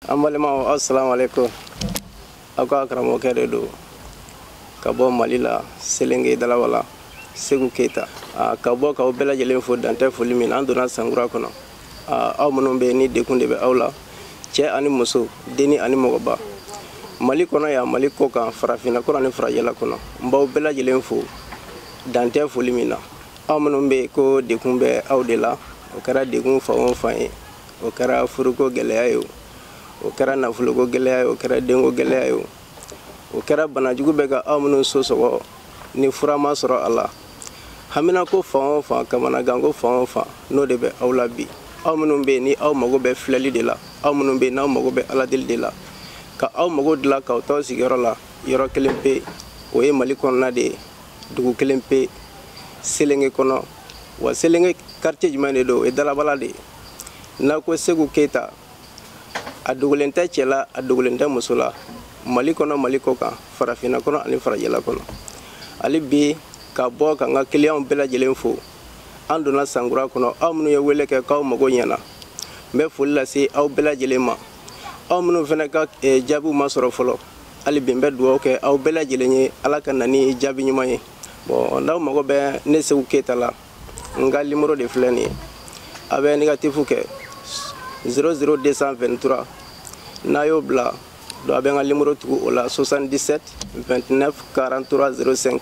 an balimaw aw salamu aleykum aw ka karamɔgɔkɛ de don ka bɔ mali la selenge dalawala segu keyita ka bɔ k'aw bɛɛ lajɛlen fo dan tɛ foli min na an donna sankura kɔnɔ aw minnu bɛ yen ni degun de bɛ aw la cɛ ani muso denni ani mɔgɔba mali kɔnɔ yan mali kɔ kan farafinna kɔnɔ ni farajɛla kɔnɔ n b'aw bɛɛ lajɛlen fo dan tɛ foli min na aw minnu bɛ yen ko degun bɛ aw de la o kɛra degun fan o fan ye o kɛra furuko gɛlɛya ye o o kɛra nafoloko gɛlɛya ye o kɛra denko gɛlɛya ye o o kɛra banajugu bɛ ka aw minnu so sɔgɔ ni fura ma sɔrɔ a la haminako fan o fan kamanaganko fan o fan n'o de bɛ aw la bi aw minnu bɛ yen ni aw mago bɛ filɛli de la aw minnu bɛ yen n'aw mago bɛ aladeli de la ka aw mago dilan k'aw t'aw sigiyɔrɔ la yɔrɔ kelen pe o ye mali kɔnɔna de ye dugu kelen pe selenge kɔnɔ wa selenge quartier jumɛn de don o ye dalabala de ye n'a ko segu keyita a dogolen tɛ cɛ la a dogolen tɛ muso la mali kɔnɔ mali kɔ kan farafinna kɔnɔ ani farajɛla kɔnɔ hali bi ka bɔ ka n ka kiliyanw bɛɛ lajɛlen fo an donna sankura kɔnɔ aw minnu ye wele kɛ k'aw mago ɲɛna n bɛ foli lase aw bɛɛ lajɛlen ma aw minnu fana ka eh, jaabiw ma sɔrɔ fɔlɔ hali bi n bɛ dugawu kɛ aw bɛɛ lajɛlen ye ala ka na ni jaabi ɲuman ye bon n'aw mago bɛ ne segu keyita la n ka limoro de filɛ nin ye a bɛ negatifu kɛ 00223 n'a y'o bila donc a bɛ n ka limoro tugu o la 77 29 43 05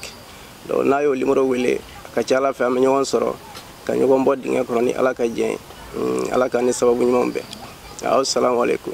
donc n'a y'o limoro wele a ka ca ala fɛ an bɛ ɲɔgɔn sɔrɔ ka ɲɔgɔn bɔ dingɛ kɔnɔ ni ala ka jɛn ye ala k'an ni sababu ɲumanw bɛn aw salamu aleykum